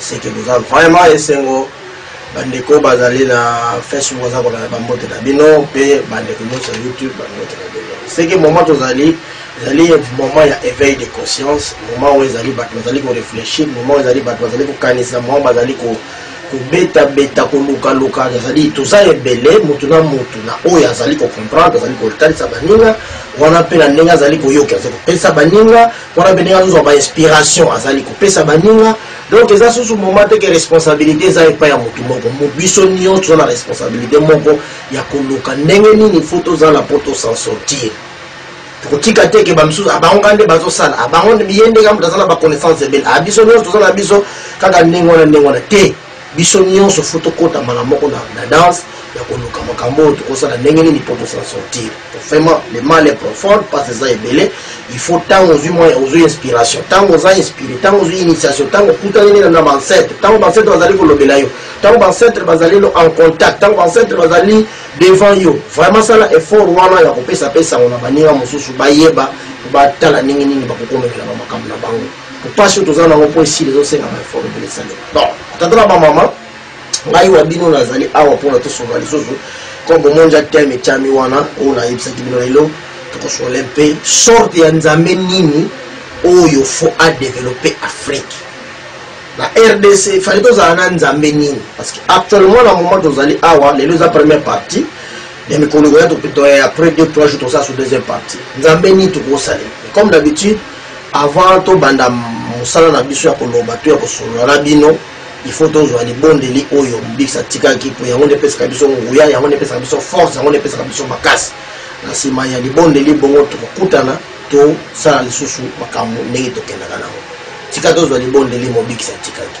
seke boza vraiment esengo bandeko bazali na facebook baza kolanda bambote na bino mpe bandeko nyonso ya youtube bambote na bino seke moment tozali ezali moment ya éveil de conscience moment oyo ezali bato bazali korefléchir moment oyo ezali bato bazali kokanisa moment bazali ko kobetabeta kolukaluka ezali toza ebele motu na motu na oyo azali kocomprendre azali kotalisa baninga wana mpe na ndenge azali koyoka azali kopesa baninga wana mpe ndenge azozwa bainspiration azali kopesa baninga donc eza susu moment te ke responsabilité eza epai ya motu moko biso nyonso toza na responsabilité moko ya koluka ndenge nini fo tozala mpo tosan sortir tokotika te ke bamisusu abango kaka nde bazosala abango ye nde kaka moto aza na baconnaissance ebele a biso nyonso toza na biso kaka ndenge wana ndenge wana te biso nyonso fo tokota mbala moko na, na danse ya koluka makambo oyo tokosala ndenge nini mpo tosala sortir vraiment le mal est profond mpasi eza ebele il faut ntango ozwi mwa ozwi inspiration ntango oza inspire ntango ozwi initiation ntango okutaneli na bancetre ntango bancetre bazali kolobela yo ntango bancetre bazali no en contact ntango bancetre bazali devant yo vraiment sala effort wana ya kopesa mpe sango na baninga mosusu bayeba batala ndenge nini bakokomekela bamakambo na bango mpasi oyo toza nango mpo esili ezosenga baefort ebele esalema donc tata na bamama ngai wa bino nazali awa mpona tosunga lisusu comme bomoni ya teme etyami wana oyo nayebisaki bino lelo tokosole mpe sorte ya nzambe nini oyo fo adeveloppe afrique na rdc fali tozala na nzambe nini parce que actuellement na moment tozali awa lelo eza première partie ya mikolo ekoya après deux trois jours tosala sur deuxième partie nzambe nini tokosalela comme d'habitude Avant to banda musala na biso ya koloba to ya kosolola na bino, il faut tozwa libondeli oyo mobikisi atikaki mpo yango nde epesaka biso nguya yango nde epesaka biso force yango nde epesaka biso makasi na nsima ya libondeli bongo tokokutana tosala lisusu makambo ndenge tokendaka nango tika tozwa libondeli mobikisi atikaki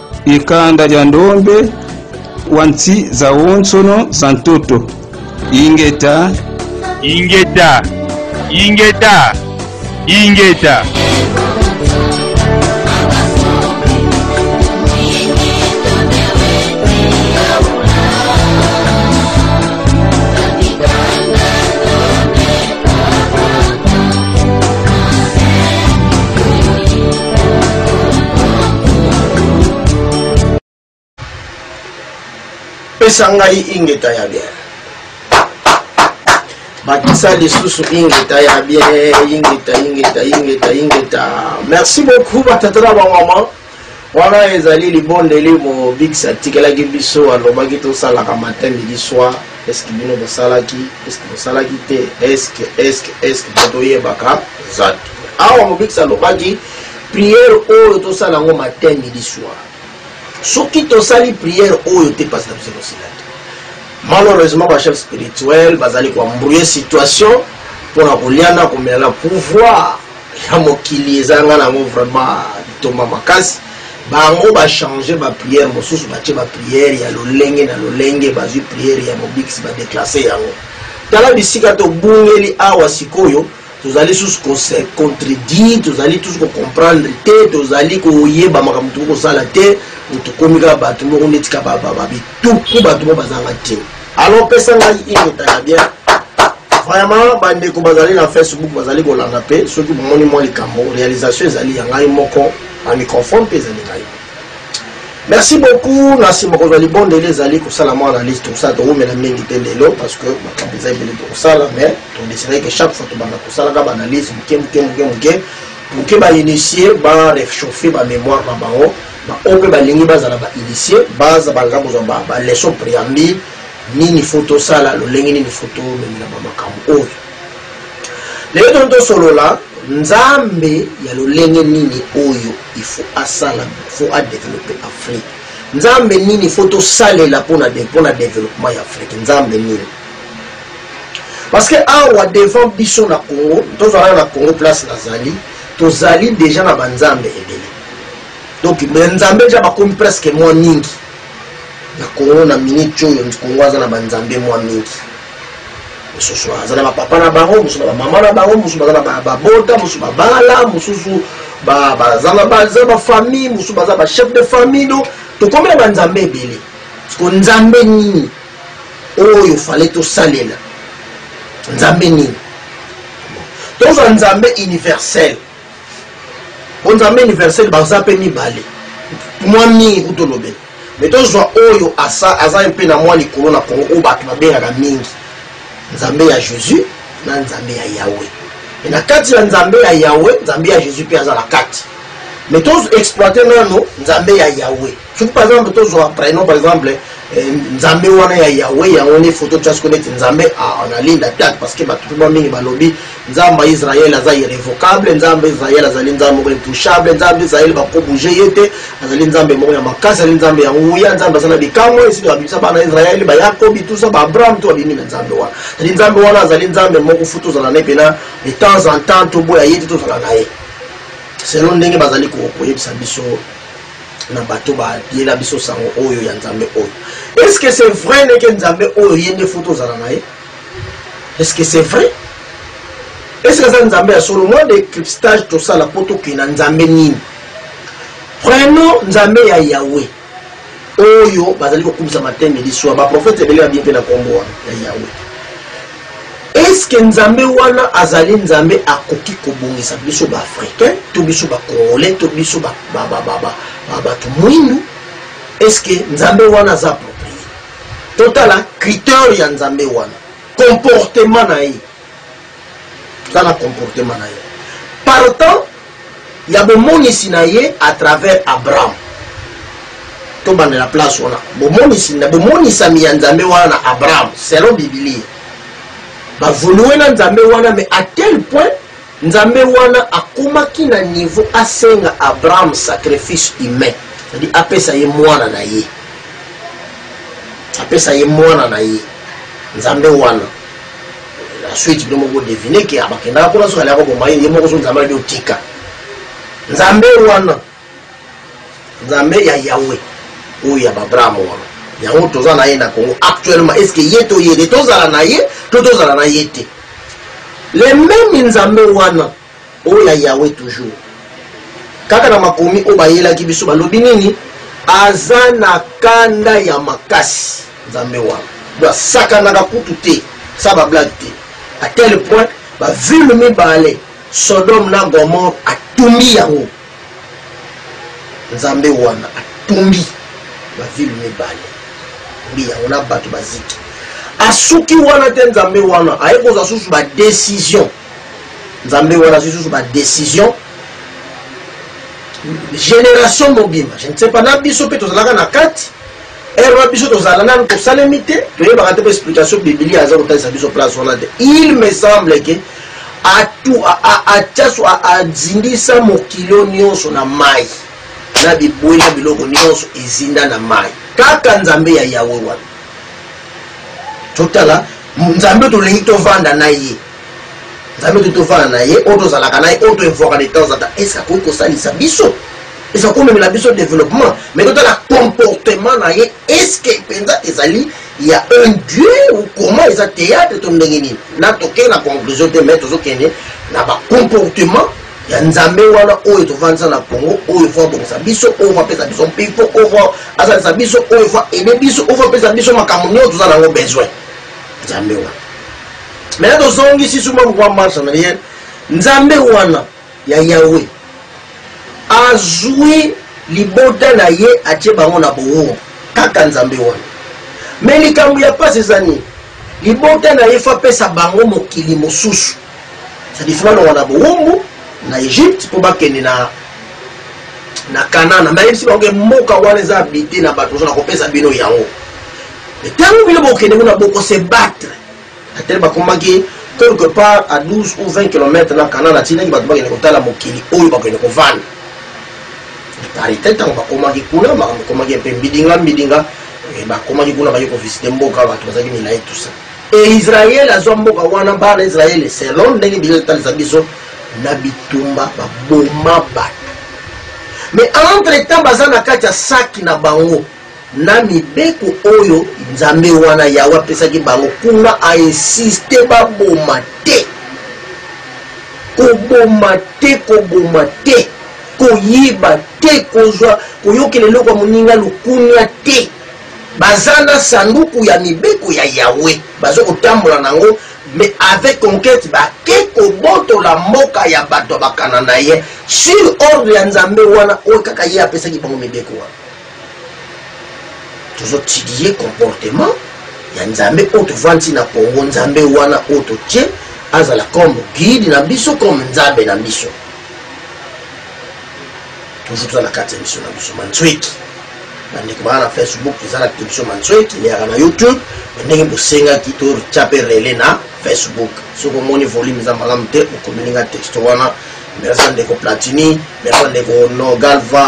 Ikanda lya ndombe wa nsi za wonsono za ntoto. Ingeta. Ingeta. Ingeta. Ingeta. pesa ngai ingeta ya bien bakisa lisusu ingeta ya bien ingeta ingeta ingeta ingeta merci beaucoup batata na bamama wana ezali libondeli mobikisi atikelaki biso alobaki tosalaka matin midi soir est ce que bino bosalaki est ce que bosalaki te est ce que est ce que est ce que mpo toyebaka eza te awa mobikisi alobaki priere oyo tosala yango matin midi soir soki tosali priere oyo te mpasi na biso tosila te malheureusement bachef spirituel bazali koembrouye situation mpo na kolia na komela na pouvoir ya mokili eza nga nango vraiment litomba makasi bango bachange bapriere mosusu batie bapriere ya lolenge na lolenge bazwi priere ya mobikisi badeklase yango tala bisika tobungeli awa sikoyo tozali susu kose contredire tozali tusu kocomprendre te tozali koyeba makambo tokoki kosala te tokomi kaka bato moko neti kaka babituku bato moko bazanga ntina alors pesa ngai ingeta ya bien vraiment bandeko bazali na facebook bazali kolanda mpe soki bomoni mwa likambo réalisation ezali ya ngai moko na microphone mpe ezali ngai merci beaucoup na nsima kozwa libondeli ezali kosala mwa analyse tosala towumela mingi te lelo parce que makambo eza ebele tokosala mais todeside ke chaque fois tobanda kosalaka baanalyse moke moke moke moke moke bainitie barechauffe bamémoire na bango Ba oyo pe balingi bazala ba initier baza baza kozwa ba ba leçon preambule nini faut tosala lolenge nini faut tomemela ba makambo oyo lelo toni tosolola nzambe ya lolenge nini oyo il faut asala faut adeveloppe afrique nzambe nini faut tosalela mpona mpona développement ya afrique nzambe nini parce que awa devant biso na congo tozalaka na congo place nazali tozali deja na banzambe ebele donc mais nzambe deja bakomi presque mwa mingi na congo na minute oyo congo aza na banzambe mwa mingi mosusu aza na bapapa na bango mosusu na bamama na bango mosusu baza na babota mosusu babala mosusu baza bafamille mosusu baza bachef de famille do tokomi na banzambe ebele siko nzambe nini oyo fale tosalela nzambe nini tozwa nzambe universel po nzambe universel baza mpe mibale mwa mingi kutu olobela me tozwa oyo asa aza mpe na mwa likolo na kongo oyo bato babengaka mingi nzambe ya jésus na nzambe ya yawe e na kati ya nzambe ya yawe nzambe ya jésus mpe aza na kati me toexploite nano nzambe ya yawe soki par exemple tozwa prénom par exemple eh, nzambe wana ya yawe yango nde foto tia siko neti nzambe analinda te parce que bato mpe ba mingi balobi nzambe ya israele aza irrévocable nzambe israel azali nzambe moko intouchable nzambe israel bakobouge ye te azali nzambe moko ya makasi azali nzambe ya nguya nzambe aza na bikamwa esili babimisa bana israele bayakobi tusa baabraham to babimi na nzambe wana azali nzambe wana azali nzambe moko fu tozala na ye mpena de temps en temps toboya ye te tozala na ye selon ndenge bazali koyebisa biso na bato bayela biso sango oyo ya nzambe oyo est ce que c'est vrai ndeke nzambe oyo ye nde fo tozala na ye est ce que c'est vrai est ce que aza nzambe ya solo mwa decryptage tosala mpo tokei na nzambe nini prenons nzambe ya yawe oyo bazali kokumisa mateme liswa baprofete ebele babie mpe na nkombo wana ya yawe Eske nzambe wana azali nzambe akoki kobongisa biso ba africain to biso ba congolais to biso ba ba ba ba ba ba bato mwindu eske nzambe wana aza approprié totala criteur ya nzambe wana comportement na ye tala comportement na ye partant ya bomonisi na ye à travers Abraham. Tobanda na place wana. Bomonisi na bomonisami ya Nzambe wana na Abraham selon Biblia. Bavoluer na Nzambe wana mais à tel point Nzambe wana akomaki na niveau asenga Abraham sacrifice humain. C'est-à-dire apesa ye mwana na ye. Apesa ye mwana na ye. Nzambe wana la suite bino moko devine ke abakendaka kuna soki aliaka boma ye ye moko so nzambe alobi otika nzambe wana nzambe ya yawe oyo ya babraham wana yango toza na ye na congo actuellement est ce que ye to ye te tozala na ye to tozala na ye te le meme nzambe wana Oh ya Yahweh toujours. Kaka na makomi oyo bayelaki biso balobi nini? Aza na kanda ya makasi Nzambe wana. Donc asakanaka kutu te, sa ba blague te. À tel point ba ville mibale Sodome na Gomorre atumbi yango. Nzambe wana atumbi ba ville mibale. Mbi yango na bato baziki. Asuki wana te Nzambe wana aye kozwa susu ba decision. nzambe wana azwi susu badecision génération mobimba je ne sais pas na biso mpe tozalaka na kati ere na biso tozala nanu tosalemi te toyebaka te mpe explication bibilia aza kotalisa biso place wana te il me semble ke atiaso azindisa mokilo nyonso na mai na bibwe na biloko nyonso ezinda na mai kaka nzambe ya yawe wana totala nzambe tolingi tovanda na ye nzambe to tofana na ye oyo tozalaka na ye oyo toevoaka de temps en temps est ce akoki kosalisa biso eza komemela biso développement mais totala comportement na ye est ce que mpenza ezali ya un dieu ou comment eza théâtre to ndenge nini na tokei na conclusion te mais tozokende na bacomportement ya nzambe wana oyo tovandisa na congo oyo fo abongisa biso oyo fo apesa biso mpifo oyo fo asalisa biso oyo fo aide biso oyo fo apesa biso makambo nyonso toza na yango besoin nzambe wana Maintenant tozongisi suma pourquoi marche en arrière nzambe wana ya yawe azwi libota na ye atie bango na bowo kaka nzambe wana me likambo ya mpasi eza nini libota na ye fo apesa bango mokili mosusu sadi fo balonga na bowumbu na egypte mpo bakende na na kanana me ayebisi bango ke mboka wana eza abite na bato ozo na kopesa bino yango ntango bino bokende kuna bokosebattre Betele bakomaki quelque part à 12 ou 20 kilomètre na Kanana, atindaki bato bakende kotala mokili oyo bakende kovanda. Na parite, ntango bakomaki kuna, makambo ekomaki mpe mbidinga mbidinga, eh, bakomaki kuna, baye kovisite mboka, bato bazalaki milai tusa. E Israele azwa mboka wana, bana Israele selon ndenge Biblia etalisa biso, na bitumba baboma bato. Mais entre temps baza na kati ya saki na bango. na mibeko oyo Nzambe wana Yawe apesaki bango, kuna a insiste baboma te, koboma te, koboma te, koyiba te, kozwa koyokela eloko ya moninga lukunia te. Baza na sanduku ya mibeko ya Yawe, baza kotambola nango mais avec conquête bake kobotola mboka ya bato ya bakananaye sur ordre ya Nzambe wana oyo kaka ye apesaki bango mibeko wana. tozotidie comportement ya nzambe oyo tovandi na congo nzambe wana oyo totie azala comme guide na biso comme nzambe na biso toujours toza na kati ya biso na biso manzweki bandeko baa na facebook eza na kiti biso manzweki leyaka na youtube ndenge bosengaki totya mpe rele na facebook soki omoni volume eza malamu te okomelinga texte wana merci ya ndeko platini merci ya ndeko no galva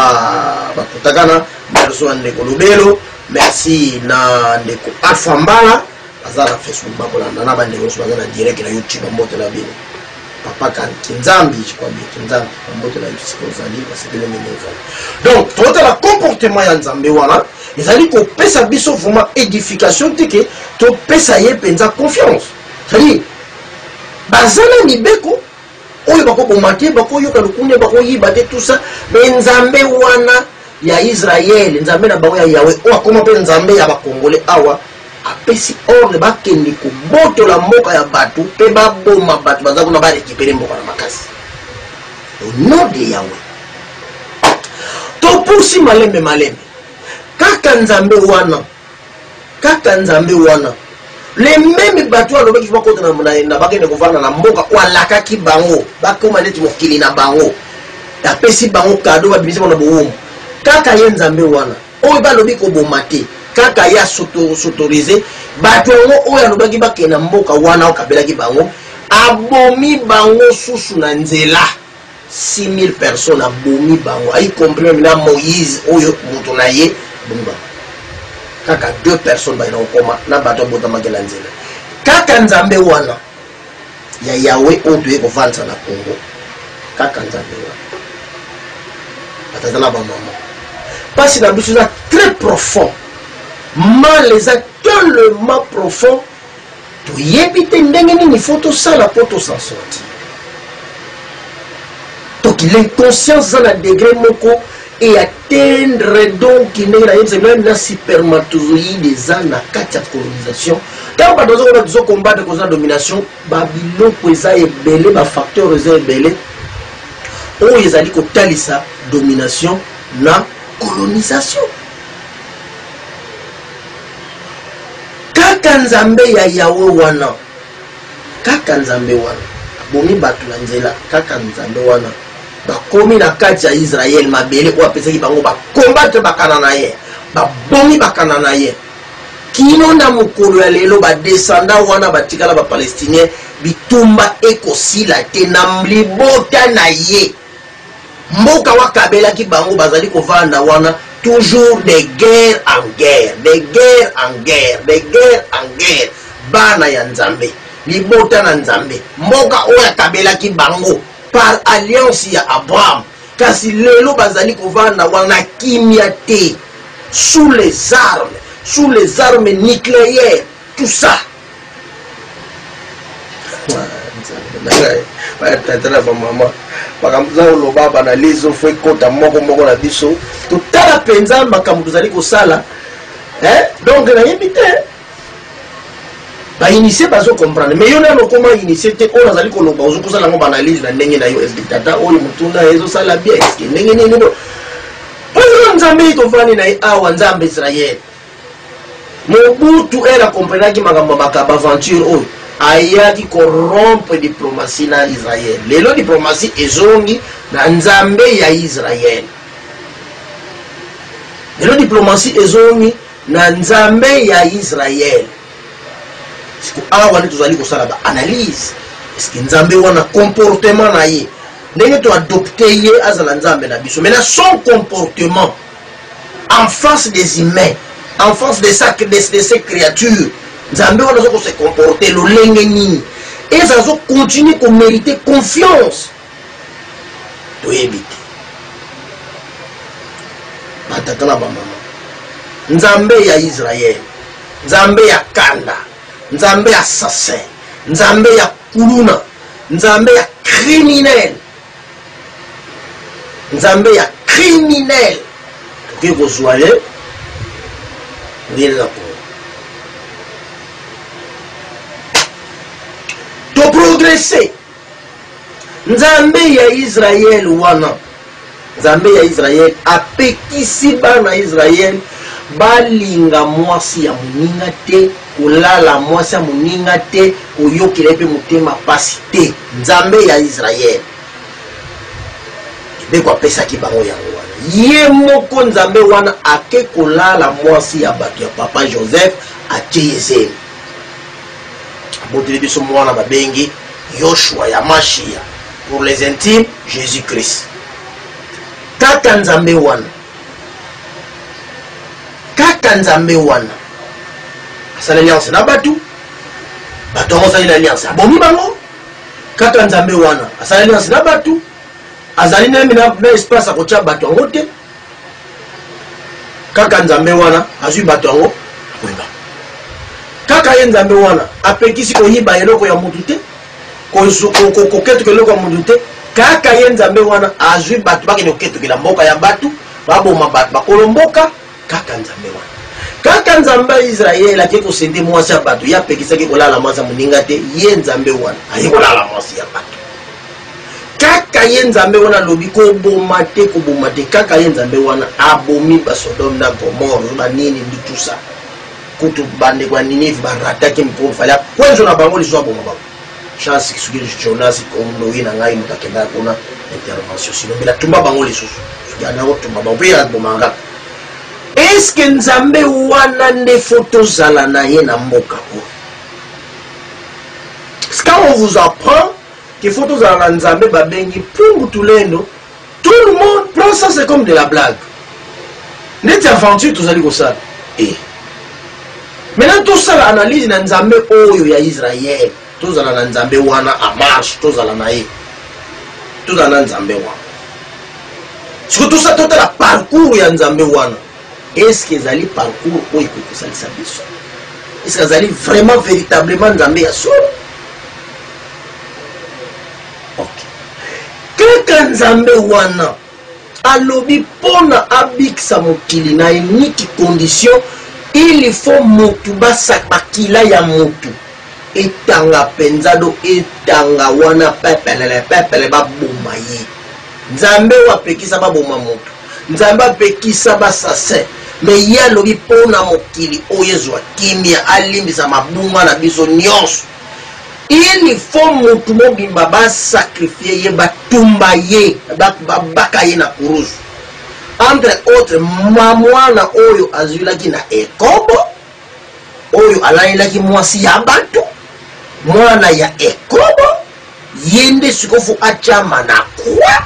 bakutakana merci ya ndeko lobelo merci na ndeko alpha mbala baza na facebook bakolanda na bandeko nyonso baza na direct na youtube bambote na bino papa kinzambi jikwambi kinzambi bambote na yosika ozali basepele ndenge ozali donc totala comportement ya nzambe wana ezali kopesa biso vraiment édification te ke topesa ye mpenza confiance cetadire baza na mibeko oyo bakoboma te bakoyoka lokunia bakoyiba te tusa me nzambe wana ya israele nzambe na bango ya yawe oyo akoma mpe nzambe ya bakongole awa apesi ordre bakende kobotola mboka ya bato mpe baboma bato baza kuna barekipere mboka na makasi ono de yawe topusi malembe malembe kaka nzambe wana Kaka nzambe wana. Les memes batu oyo alobaki ba kota na bakende kovanda na mboka oyo alakaki bango bakoma neti mokili na bango apesi bango kado babimisi bango na bowumbu kaka ye nzambe wana oyo balobi koboma te kaka ye asotorise bato yango oyo alobaki bakenda mboka wana okabelaki bango abomi bango susu na nzela 6000 personnes abomi bango ayi comprendre na moïse oyo moto na ye abomi bango kaka deux personnes bayina kokoma na bato abotamaki na nzela kaka nzambe wana ya yawe oyo toye kovandisa na congo kaka nzambe wana batata na bamama mpasi na biso eza très profond mal eza tellement profond toyebi te ndenge nini faut tosala mpo tosan sorti donc l'inconscience eza na degre moko e atteindre donc ndenge nayebisa meme na supermatozoïde eza na kati ya colonisation ntango bato bazokona tozo combattre koza na domination babiloko eza ebele bafacteur eza ebele oyo ezali kotalisa domination na colonisation kaka nzambe ya yawe wana kaka nzambe wana abomi bato na nzela kaka nzambe wana bakomi na kati ya israele mabele oyo apesaki bango bakombatre bakana na ye babomi bakana na ye kino na mokolo ya lelo badesanda wana batikala bapalestinien bitumba ekosila te na libota na ye mboka wakabelaki bango bazali kovanda wana toujours de guerre en guerre de guerre en guerre de guerre en guerre bana ya nzambe libota na nzambe mboka oyo akabelaki bango par alliance ya abraham kasi lelo bazali kovanda wana kimia te sous les armes sous les armes nucléaires tout ça tata na bamama makambo tozali koloba banalyse ofo ekota moko moko na biso totala mpenza makambo tozali kosala donc nayebi te bainitie bazo comprendre mais yo nano okoma initie te oyo nazali koloba ozo kosala yango baanalyse na ndenge na yo eske tata oyo motuna ezosala bien eske ndenge nini oyo nzambe ye tofandi na ye awa nzambe israele Mobutu elle a comprenaki makambo maka ba aventure oyo ayaki ko rompre diplomatie na Israël. Lelo diplomatie ezongi na Nzambe ya Israël. Lelo diplomatie ezongi na Nzambe ya Israël. Siko awa nde tozali kosala ba analyse eske Nzambe wana comportement na ye ndenge to adopte ye azala Nzambe na biso mais na son comportement enfance des humains enfance de, sa, de, de ces créatures nzambe wana aza kose comporte lolenge nini eza azo continue komérite confiance toyebi te batata na bamama nzambe ya israel nzambe ya kanda nzambe ya assassin nzambe ya kuluna nzambe ya criminel Nzambe ya criminel toke kozwa ye oyelela po toprogrese nzambe ya israele wana nzambe ya israele apekisi bana israele balinga mwasi ya moninga te kolala mwasi ya moninga te koyokela ye mpe motema mpasi te Nzambe ya Israël. Mibeko apesaki bango yango wana. Ye moko Nzambe wana ake kolala mwasi ya bato ya papa Joseph atie ye zemi. Aboteli biso mwana babengi Yoshua ya Mashia. Pour les intimes, Jésus-Christ. Tata Nzambe wana. Tata Nzambe wana. Asala alliance na bato. bato yango asali na alliance abomi bango kaka nzambe wana asali alliance na bato azali nayemi na espace akotya bato yango te kaka nzambe wana azwi bato yango akoyeba kaka ye nzambe wana apekisi koyiba eloko ya motu te koketuka eloko ya motu te kaka ye nzambe wana azwi bato bakende koketukela mboka ya bato baboma bato bakolo mboka Kaka Nzambe wana. Kaka Nzambe ya Israël ake ko sende mwasi ya bato, ye apekisaki kolala mwasi ya moninga te, ye Nzambe wana aye kolala mwasi ya bato. Kaka ye Nzambe wana alobi koboma te, koboma te. Kaka ye Nzambe wana abomi ba Sodome na Gomorre, ba nini ndi tout ça. Kutu bandeko ya Ninive barataki mpo fale akwenzo na bango lisusu aboma bango. chance soki jonas kondoyi na ngai moto akendaka kuna intervention sino mpe natumba bango lisusu soki ana kotumba bango mpe ye akoboma nga eske nzambe wana nde fo tozala na ye na mboka oyo quand on vous apprend qu'il faut tozala na nzambe babengi pungu tulendo tout le monde prend ça c'est comme de la blague neti aventure tozali kosala e eh. maintenant tosala analyse na nzambe oyo ya israel tozala na nzambe wana a marche tozala na ye tozala na nzambe wana soki tosa totala parcours ya nzambe wana eske ezali parcours oyo ekoki kosalisa biso eske azali vraiment véritablement nzambe ya solo ok kaka nzambe wana alobi pona abikisa mokili na eniki condition il faut motu basakakila ya motu etanga mpenza do etanga wana pepelele pepele baboma ye nzambe oyo apekisa baboma motu nzambe apekisa basasin me ye alobi mpo na mokili oyo ezwa kimia alimbisa mabunga na biso nyonso Il faut mutu mobimba ba sacrifier ye ba tumba ye ba baka ye na kuruzu entre autre ma mwana oyo azwilaki na ekobo oyo alalelaki mwasi ya batu mwana ya ekobo ye nde sikofu atyama na kwa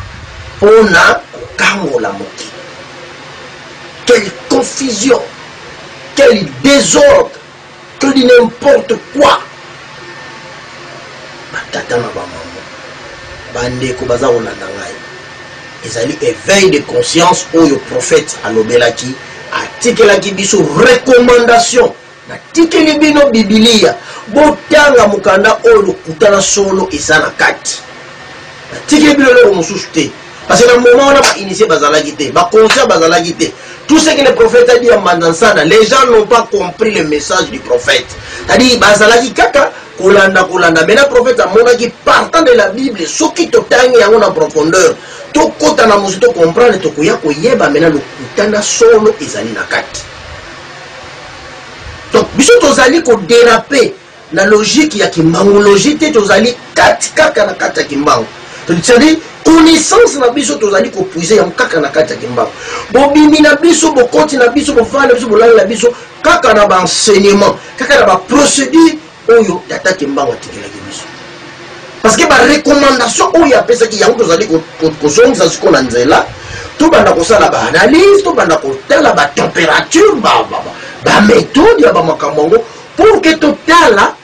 mpo na kokangola mokili quelle confusion quel désordre To dit n'importe quoi. Batata na ba maman, bandeko baza kolanda ngai. Ezali éveil de conscience oyo prophète alobelaki, atikelaki biso recommandation natikeli bino bibilia botanga mokanda oyo lokuta na solo eza na kati natikeli bino eloko mosusu te Parce que na moment wana ba initié bazalaki te, ba conscients bazalaki te. Tout ce que le prophète a dit en Mandansana, les gens n'ont pas compris le message du prophète. C'est-à-dire bazalaki kaka kolanda kolanda. Mais na prophète amonaki partant de la Bible, soki totangi yango na profondeur, tokota na mosu to comprendre tokoya koyeba mena lokuta na solo ezali na kati. Donc biso tozali ko déraper na logique ya kimbangu logique te tozali kati kaka na kati ya kimbangu cetadire connaissance na biso tozali kopuise yango kaka na kati ya kimbangu bobimi na biso bokoti na biso bofali na biso bolali na biso kaka na baenseignement kaka na baprocédure oyo tata kimbangu atikelaki biso parce que barecommandation oyo apesaki yango tozali kozongisa siko na nzela tobanda kosala baanalyse tobanda kotala batempérature baméthode ya bamakambo yango Pour que totala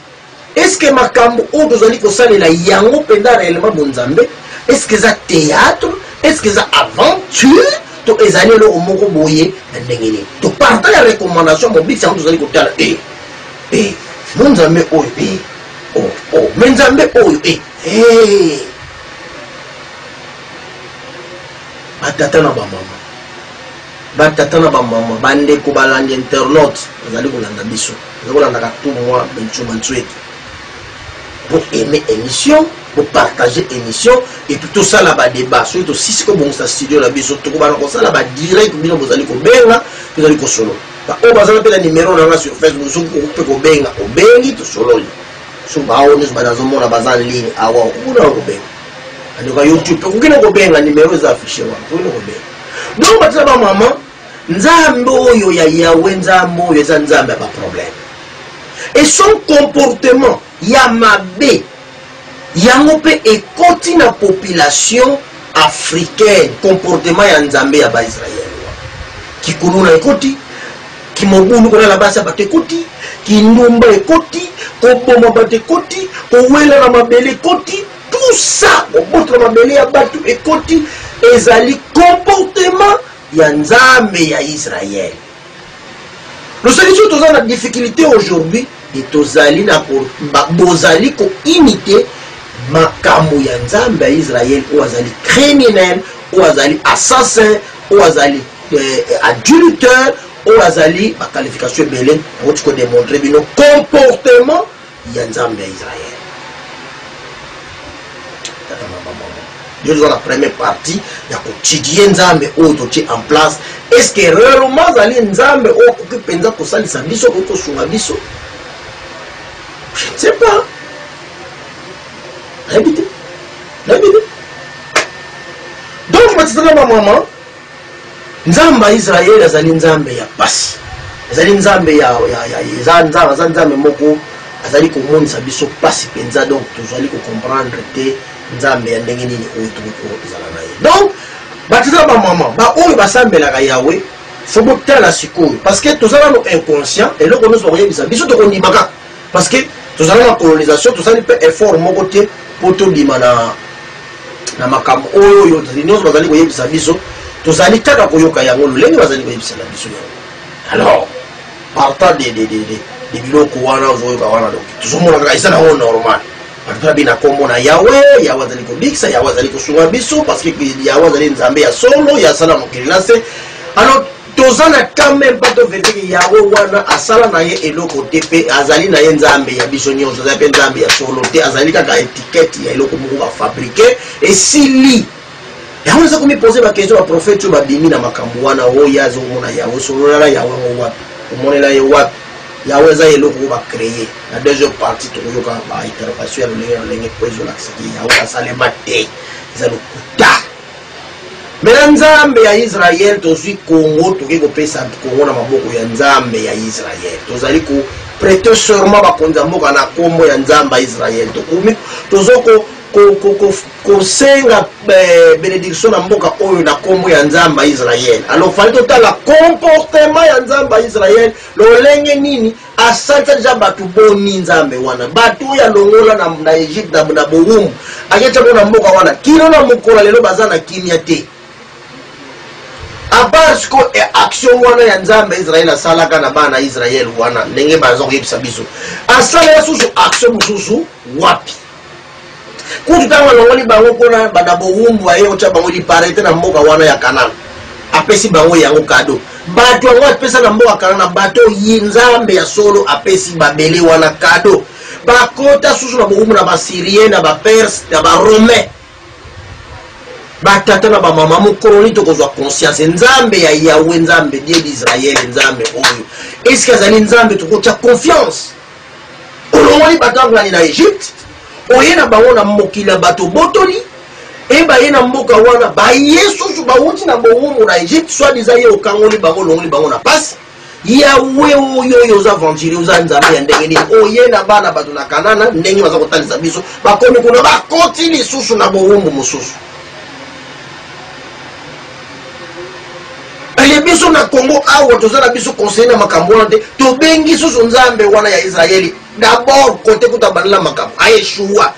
est ce que makambo oyo tozali kosalela yango mpenza réellement bonzambe est ce que eza théâtre est ce que eza aventure to ezali eloko moko boye na ndenge nini toparta ya recommandation mobikisi yango tozali kotala e eh, e eh, mo nzambe oyo e eh, o oh, o oh, me nzambe oyo e hey. batata na bamama Ba tata na ba maman, ba ndeko balandi internautes bazali kolanda biso. Bazali kolandaka tout moi Bencho Mansueki. Bo aimer émission, bo partager émission et puis tosala ba débat. Soki tosisi ko bongisa studio na biso, tokobana kosala ba direct bino bozali kobenga, tozali kosolo. Ba oyo bazala pe na numéro na nga sur Facebook, soki okope kobenga, obengi tosololi. So ba oyo nyonso banazomona baza en ligne awa, okuna kobenga. Andeko YouTube, okina kobenga numéro eza affiché wana, okina kobenga. donc bato na bamama nzambe oyo ya yawe nzambe oyo eza nzambe ya baproblème et son comportement ya mabe yango mpe ekoti na population africaine comportement ya nzambe ya baisraele kikuluna ekoti kimobulu kolala basi ya bato ekoti kindumba ekoti koboma bato ekoti kowela na mabele ekoti Tout ça kobotola mabele ya batu ekoti ezali comportement ya Nzambe ya Israël. Losaki soki toza na difficulté aujourd'hui et tozali na bozali ko imiter makambo ya Nzambe ya Israël oyo azali criminel, oyo azali assassin, oyo azali eh, adultère, oyo azali ba qualification ebele, okoki ko démontrer bino comportement ya nzambe ya israel tata mama mama yo ozwa na première partie ya kotidie nzambe oyo totie en place est ce que réellement azali nzambe oyo akoki mpenza kosalisa biso akoki kosunga biso je ne sais pas nayebi te nayebi te donc matitana bamama Nzambe ya Israël azali Nzambe ya pasi. Azali Nzambe ya, ya, ya, eza, Nzambe, aza Nzambe moko azali komonisa biso pasi penza donc tozali kocomprendre te Nzambe ya ndenge nini oyo tokoki kozala na ye donc bato eza bamama baoyo basambelaka yawe fo botala sikoyo parce que toza nano inconscient eloko nyonso bakoyebisa biso tokondima kaka Parce que tozali na colonisation, tozali mpe effort moko te mpo tobima na na makambo oyo oyo nyonso bazali koyebisa biso, tozali kaka koyoka yango lolenge bazali koyebisela biso yango. Alors partant de de de de de biloko wana ozoyoka wana, donc tozomona kaka eza nango normal babi na nkombo na yawe yawe azali kobikisa yawe azali kosunga biso parce que yawe azali nzambe ya solo ya asala mokili na se alors toza na temps meme pas tovete ke yawe wana asala na ye eloko te mpe azali na ye nzambe ya biso nyonso azali mpe nzambe ya solo te azali kaka etikete ya eloko moko bafabrike esili yango naza komipose bakestion baprofete oyo babimi na makambo wana oyo oh, ye azomona yawe sololala yawe yango wapi omonela ye wapi yawe eza eloko oyo bacreye na deuxième partie tokoyoka baintervention ya lolenge na lolenge mpo ezolakisa te yawe asalema te eza lokuta Mais na nzambe ya Israël tozui Congo toke kopesa Congo na maboko ya nzambe ya Israël tozali ko prete serment bakonzi ya mboka na kombo ya nzambe ya Israël tokomi tozoko kosenga eh, benediction na mboka oyo na kombo ya nzambe ya Israël alors fali totala comportement ya nzambe ya Israël lolenge nini Asalisa dejà batu boni nzambe wana batu oyo alongola na, na Egypte na, na bowumbu aketia bo na mboka wana kino na mokola lelo baza na kimia te apart siko e action wana ya nzambe ya israele asalaka na bana israele wana ndenge baza koyebisa biso asalela susu action mosusu wapi kutu ntango alongoli bango mpo na banda bowumbu aye otya bango liparete na mboka wana ya kanana apesi bango yango kado bato yango apesa na mboka kanana bato yi nzambe ya solo apesi babele wana kado bakota susu na bowumbu na basyrien na baperse na baromain batata na bamama mokolo nini tokozwa conscience nzambe ya yawe nzambe die d'israele nzambe oyo eske azali nzambe tokotya confiance olongoli bato ya ngani na egypte oye na bango na mokili ya bato obotoli e baye na mboka wana baye susu bawuti na bowumbu na egypte soit diza ye okangoli bango olongoli bango na pasi yawe oyo oyo oza aventurier oza nzambe ya ndenge nini oye na bana bato na kanana ndenge baza kotalisa biso bakomi kuna bakoti lisusu na bowumbu mosusu mpe biso na kongo awa toza na biso conseille na makambo wana te tobengi susu nzambe wana ya israeli dabord kote kuta abandela makambo aeshua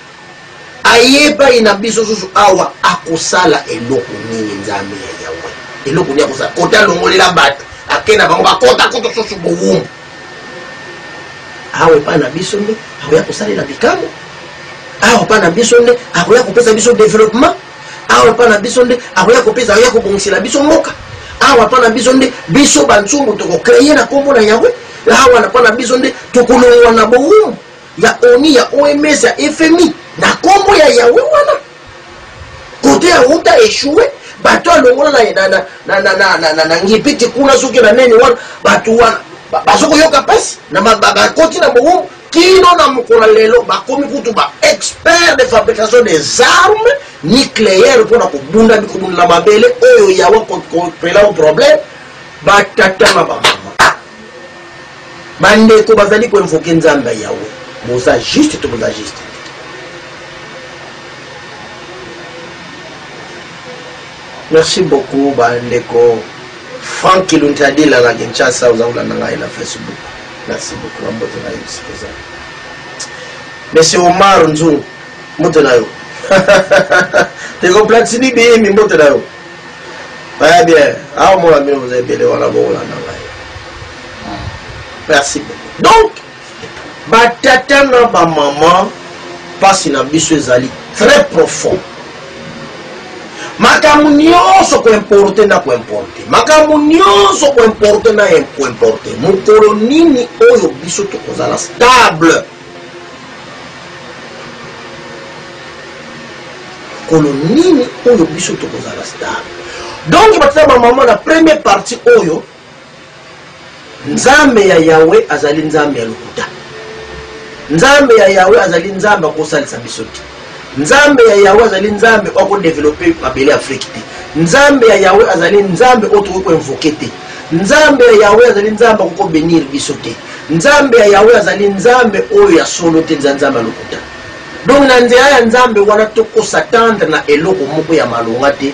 aye epai na biso susu awa akosala eloko nini nzambe ya yawe eloko nini akosala kote alongolela bato ake na bango bakota kutu susu bowumbu awa epai na biso nde akoya kosalela bikambo awa epai na biso nde akoya kopesa biso developpement awa epa na biso nde akoya kopesa akoya kobongisela biso mboka awa epa na biso nde biso bansumbu tokokreye na nkombo na yawe awa na epa na biso nde tokolongwa na bowumu ya oni ya oms ya fmi na nkombo ya yawe wana kote ya uta echouwe bato alongola na ngipiti kuna soki na neni wana bato wana bazokoyoka mpasi bakoti na bowumu Kino na mokolo ya lelo, bakomi kutu ba experts de fabrication des armes nucleaires mpo na kobunda bikobunda na mabele oyo Yahweh akopela o problème batata na bamama. Bandeko bazali koinvoke Nzambe ya Yahweh. Boza juste to boza juste te. Merci beaucoup bandeko Franck Kiluntadila na Kinshasa, oza kolanda ngai na Facebook. Merci beaucoup na mbote na yo esika ozali. Monsieur Omar Nzungu, mbote na yo. Ndeko Platini Biyimbi, mbote na yo. Baya bien, awa mona bino boza ebele wana bokolanda ngai. Merci beaucoup. Donc, batata na bamama, mpasi na biso ezali très profond. makambo nyonso koimporte na koimporte makambo nyonso koimporte na koimporte mokolo nini oyo biso tokozala stable mokolo nini oyo biso tokozala stable donc batata bamama na premier partie oyo Nzambe ya Yawe azali Nzambe ya lokuta. Nzambe ya Yawe azali Nzambe akosalisa biso te. Nzambe ya Yawe azali Nzambe oyo akodevelope mabele Afrike te. Nzambe ya Yawe azali Nzambe oyo tokoki koinvoke te. Nzambe ya Yawe azali Nzambe akoki kobenir biso te. Nzambe ya Yawe azali Nzambe oyo ya solo te, nza Nzambe ya lokuta. Donc na nzela ya Nzambe wana tokosa tendre na eloko moko ya malonga te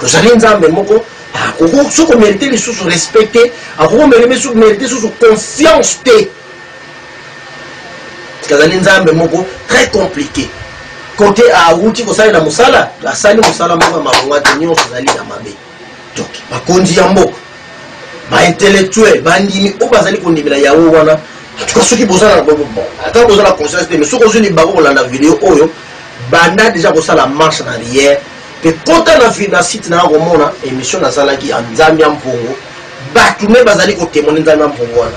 tozali nzambe moko akoki ah, soki omerite lisusu respect te akoki omerite lisusu confiance te azali nzambe moko très compliqué kote awuti kosalela mosala asali mosala moko ya malonga te nyonso ezali ya mabe donc bakonzi ya mboka baintellectuel bandimi oyo bazali kondimela yawe wana tuka soki ata bozala conscience te mais soki ozwi libango kolanda video oyo banda deja kosala marche na riere mpe kota na, na site na komona emission nasalaki ya nzambe ya mpongo bato me bazali kotemone nzambe ya mpongo wana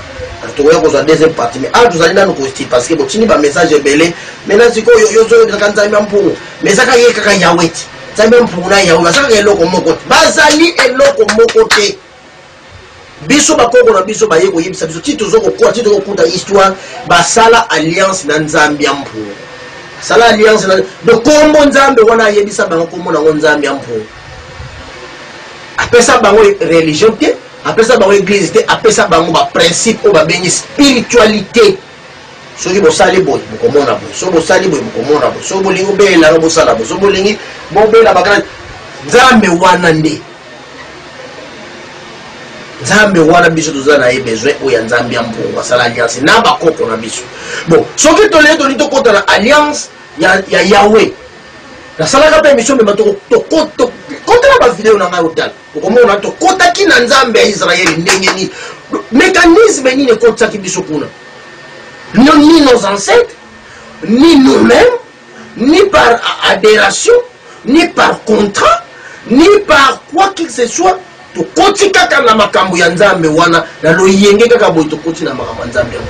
tokoya kozwa deuxième partie mais awa tozali nanu kosti parce que botindi bamessage ebele mai na sikoyo yo ozoyokaka nzambe ya mpongo mais eza kaka ye kaka yawe te nzambe ya mpongo na yawe baza kaka eloko moko te bazali eloko moko te biso bakoko na biso baye koyebisa biso ti tozo kokola ti tokokuta histoire basala alliance na nzambe ya mpungu basala alliance na do kombo nzambe wana ayebisa bango kombo nango nzambe ya mpungu apesa bango religion te apesa bango eglise te apesa bango baprincipe oyo babengi spiritualité soki bosali boye bokomona boye soki bosali boye bokomona boye soki bolingi obelelanga bosala boye soki bolingi bobela bakana nzambe wana nde nzambe wana biso toza na ye besoin oyo ya nzambe ya mpungu asala alliance na bakoko na biso bon soki tolee toli tokota na alliance ya, ya yawe nasalaka mpe emission mema tokota na bavideo na ngai otala okomona tokotaki na nzambe ya israele ndenge nini mécanisme nini ekotisaki biso kuna ni nos ancêtres ni nous-mêmes ni par aderation ni par contrat ni par quoi que ce soit tokoti kaka na makambo ya nzambe wana na loyenge kaka boye tokoti na makambo ya nzambe yango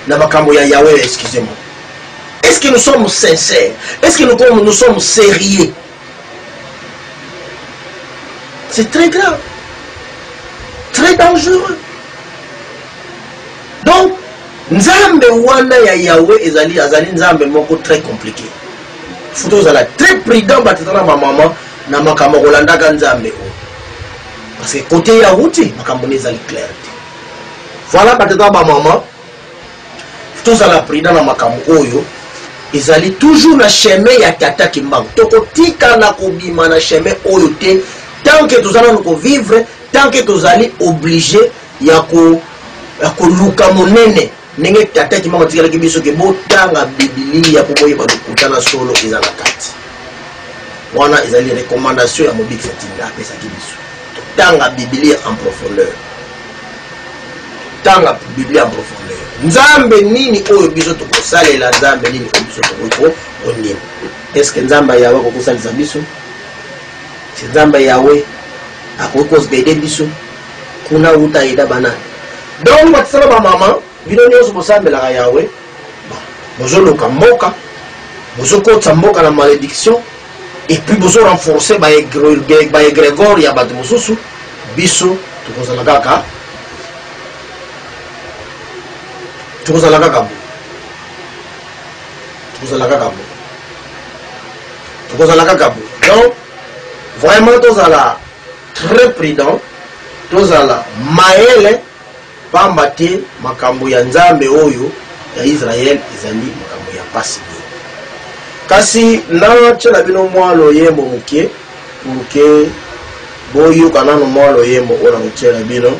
na makambo ya yawe excuse moi est ce que nous sommes sincères est ce que nous, nous sommes sérieux c'est très grave très dangereux Donc Nzambe wana ya Yahweh ezali azali Nzambe moko très compliqué. Faut ozala très prudent batata na ba maman na makambo kolandaka Nzambe oyo. Parce que côté ya Ruti makambo ne ezali clair te. Voilà batata ba maman faut ozala prudent na makambo oyo ezali toujours na chemin ya tata Kimbangu. Tokotika na kobima na chemin oyo te tant que tozana ko vivre tant que tozali obligé ya ko ya koluka monene ndenge tata ki mama tikalaki biso ke botanga bibilia mpo boyeba lokuta na solo eza na kati wana ezali recommandation ya mobikisi atinda apesaki biso totanga bibilia en profondeur tanga bibilia en profondeur nzambe nini oyo biso tokosalela nzambe nini oyo biso tokoki kondima eske nzambe yawe akoki kosalisa biso se nzambe yawe akoki kosbede biso kuna uta aida bana donc batisaka bamama bino nyonso bosambelaka yawe bozoluka mboka bozokotisa mboka na malédiction epuis bozo renforce baegregore ya bato mosusu biso tokozala kaka tokozala kaka bo tokozala kaka bo tokozala kaka bo donc vraiment tozala très prudent tozala mayele pamba te makambo ya nzambe oyo ya israel ezali makambo ya mpasi mingi kasi natyela bino mwa loyembo moke moke boyoka nano mwa loyembo oyo nakotyela bino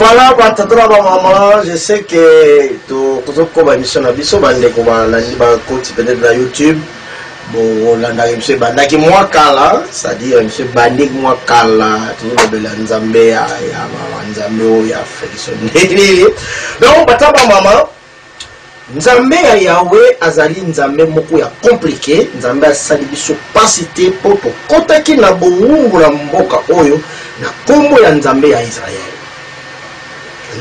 voilà batata na bamama je sais que tozokoba émission na biso bandeko balandi bakoti peut-être na youtube bolandaka biso ebandaki mwa kala c'est-à-dire biso ebandiki mwa kala tozolobela nzambe ya nzambe oyo ya fekisoneli donc batata bamama Nzambe ya Yawe azali Nzambe moko ya komplike. Nzambe asali biso pasi te mpo tokotaki na bowumbu na mboka oyo na kombo ya Nzambe ya Israel.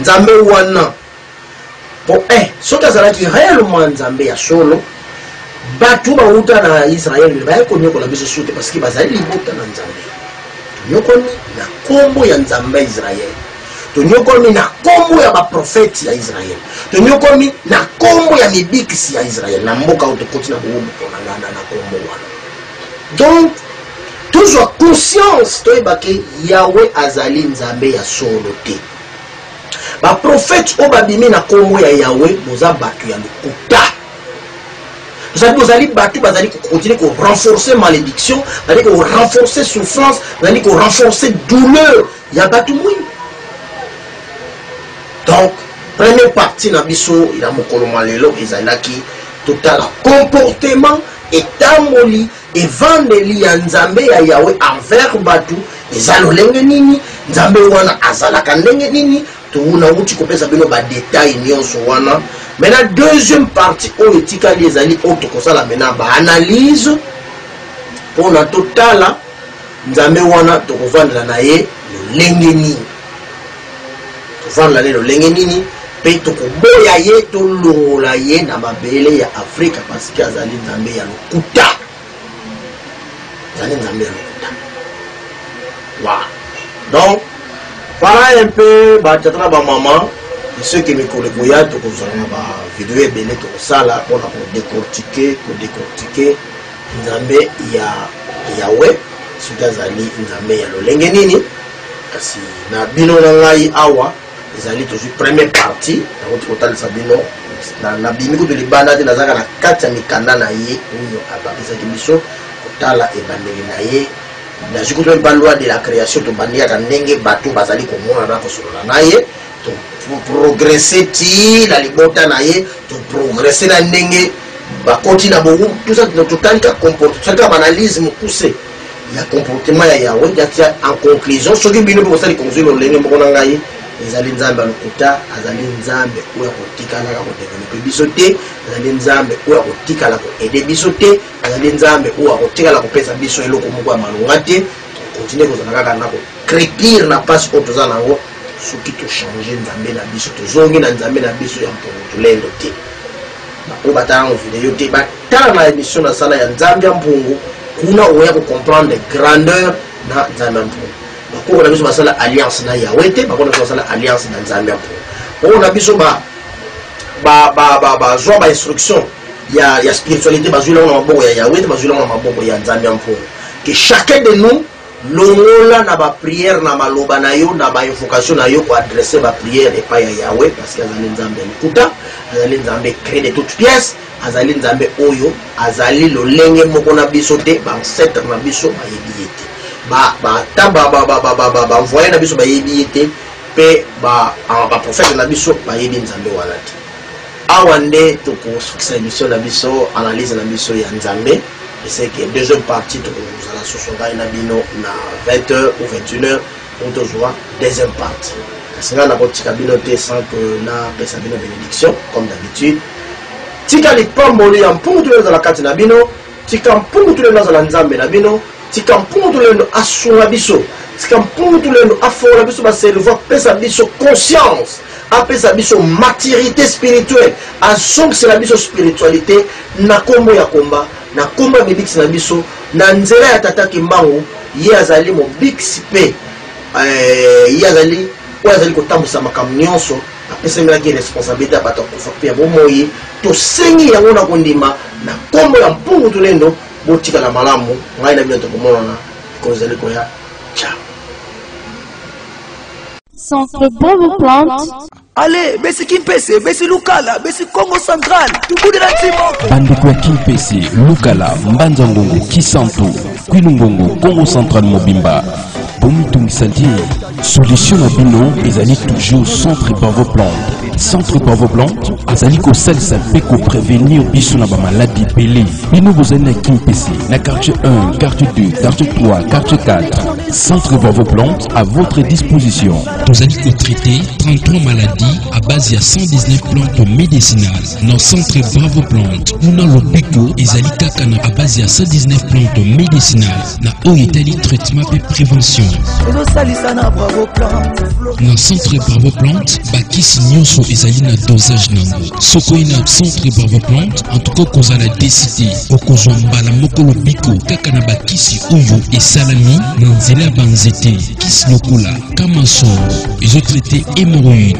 Nzambe wana mpo eh, soki azalaki reellement Nzambe ya solo, bato bawuta na Israel me baye konyokola biso sute, paske bazali libota na Nzambe. Tonyokoli na kombo ya Nzambe ya Israel. tonyokwami na nkombo ya baprofeti ya israele tonyokwami na nkombo ya mibikisi ya israele na mboka oyo tokoti na boumbu mpona ngana na nkombo wana donc tozwa conscience toyebake yawe azali nzambe ya solo te baprofete oyo babimi na nkombo ya yawe boza bato ya lokuta ozali bozali bato bazali kokontinue korenforce malédiction bazali korenforce souffrance bazali korenforce douleur ya batu mwindu donc première partie na biso ya mokolo mwa lelo ezalaki totala comportement etamboli evandeli ya nzambe ya yawe envers bato eza lolenge nini nzambe wana azalaka ndenge nini towunawuti kopesa bino badetail nyonso wana mena deuxième partie oyo etikali ezali oyo tokosala mena baanalyse mpona totala Nzambe wana tokovandela na ye lolenge nini? Tovandela na ye lolenge nini? Mpe tokoboya ye, tolongola ye na mabele ya Afrika, pasike azali Nzambe ya lokuta, azali Nzambe ya lokuta. Wa donc vala un peu batata na bamama soki mikolo ekoya tokozala na bavideo ebele tokosala mpona kodecortike kodecortike nzambe ya yawe soki azali nzambe ya lolenge nini kasi na bino na ngai awa ezali tozwi première partie nakoti kotalisa bino nabimi kutu libanda te nazalaka na kati ya mikanda na ye oyo abakisaki biso kotala ebandeli na ye nazwi kutu mpe loi de la création tobandi kaka ndenge bato bazali komonana kosolola na ye progresse ti na libota na ye toprogresse na ndenge bakoti na bongo totali ka comporte totali ka baanalyse mokuse ya comportement ya yawe yatia en conclusion soki bino mpe bosali conclui lolenge moko na ngai ezali nzambe ya lokuta azali nzambe oyo akotikalaka kodevelope biso te azali nzambe oyo akotikala koede biso te azali nzambe oyo akotikala kopesa biso eloko moko ya malonga te tokontinue kozala kaka na kocrepire na mpasi oyo toza na yango soki tochange nzambe na biso tozongi na nzambe na biso ya mpongotulendo te baoyo batalanga video te batala na émission nasala ya nzambe ya mpungu kuna oya kocomprendre grandeur na nzambe ya mpungu bakoko na biso basala alliance na yawe te bakoko na biso basala alliance na nzambe ya mpungu bakoko na biso bazwa bainstruction ya, ya spiritualité bazweli yango na maboko ya yawe te bazweli yango na maboko ya nzambe ya mfolo que chacun de nous longola na baprière na maloba na yo na bainvocation na yo koadresse baprière epai ya yawe parce que azali nzambe ya lokuta azali nzambe cré de toute pièce azali nzambe oyo azali lolenge moko na biso te baancetre na biso bayebi ye te ata banvoye na biso bayebi ye te mpe baprofete na biso bayebi nzambe wana te Awa nde tokosukisa emission na biso analyse na biso ya Nzambe eseke deuxième partie tokozala susu ngai na bino na 20h ou 21h pour tozwa deuxième partie kasi ngai nakotika bino te sans que napesa bino bénédiction comme d'habitude tika lipamboli ya mpungu toyo ezala kati na bino Tika mpungu tulendo azala Nzambe na bino. Tika mpungu tulendo asunga biso. Tika mpungu tulendo afongola biso ba cerveau, apesa biso conscience, apesa biso maturité spirituelle, azongisela biso spiritualité na kombo ya komba, na kombo ya mibikisi na biso, na nzela ya Tata Kimbangu, ye azali mobikisi pe euh, ye azali oyo azali kotambwisa makambo nyonso apesamelaki ye responsabilite ya bato ya kufa mpe ya bomoi tosengi yango na kondima na nkombo ya mpungu tulendo botikala malamu ngai na bino tokomonana mikolo ezali koya ciao Centre Bonne Plante. ale besi kimpese besi lukala besi congo central tubudela timoko bandeko ya kimpese lukala mbanza ngongo kisantu kwilungongo kongo central mobimba bomitungisa te solution na bino ezali toujours centre pavo plante centre pavo plante azali kosalisa mpe koprevenir biso na bamaladi ebele bino bozali na kimpese na quartier 1 quartier 2 quartier 3 quartier 4 centre pavo plante à votre disposition tozali kotraite 33 maladies à base ya 119 plantes médicinales na centre bravo plante kuna lobiko ezali kaka na à base ya 119 plantes médicinales na oyo etali traitement mpe prévention na centre bravo plante bakisi nyonso ezali na dosage na yango soko ye na centre bravo plante antuka okozala deside okozwa mbala moko lobiko kaka na bakisi oyo esalami na nzela ya banzete kisi lokola kamasolo ezotraite hémoroïde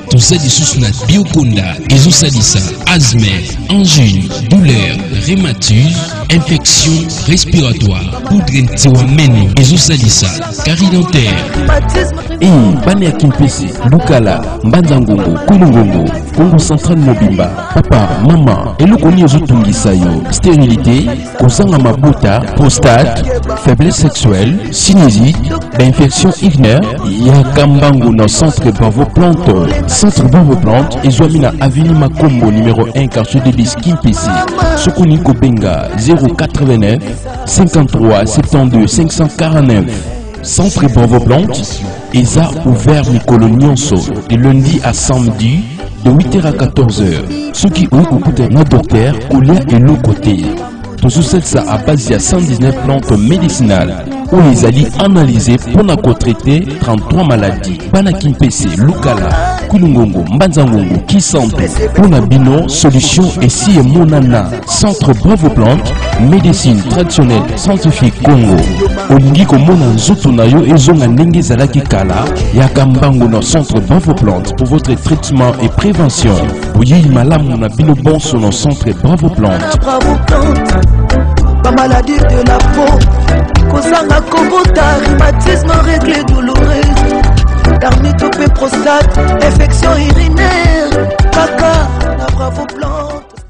toza lisusu na biokonda ezosalisa asthme angine douleur rhématise infection respiratoire poudre ntiwa meno ezosalisa kari dentaire ii bana ya kimpese lukala mbanza ngongo kulu ngongo kongo central mobimba papa mama eloko nini ezotungisa yo sterilité kozanga mabuta prostate faiblesse sexuelle sinusite bainfection urinaire ya kambangu na centre bravo plante centre bravo plante ezwami na avenue makombo numero 1 quartier de bis kimpisi soki olingi kobenga 089 53 72 549 centre bravo plante Eza ouvert mikolo nyonso de lundi à samedi de 8h à 14h. Ceux qui ont écouté na docteur kolia eloko te. tozosalisa à base ya 119 plantes médicinales oyo ezali analyse mpo na kotraite 33 maladies bana kimpese lukala kulungongo mbanzangongo kisantu mpo na bino solution esi emonana Centre Bravo Plante, médecine traditionnelle scientifique Congo. Olingi komona nzoto na yo ezonga ndenge ezalaki kala, yaka mbango na Centre Bravo Plante pour votre traitement et prévention. Boyeyi malamu na bino bonso na Centre Bravo Plante. Bravo Plante, ba maladie de la peau, kozanga kobota, rhumatisme, règles douloureuses, dermite ou prostate, infection urinaire, kaka na Bravo Plante.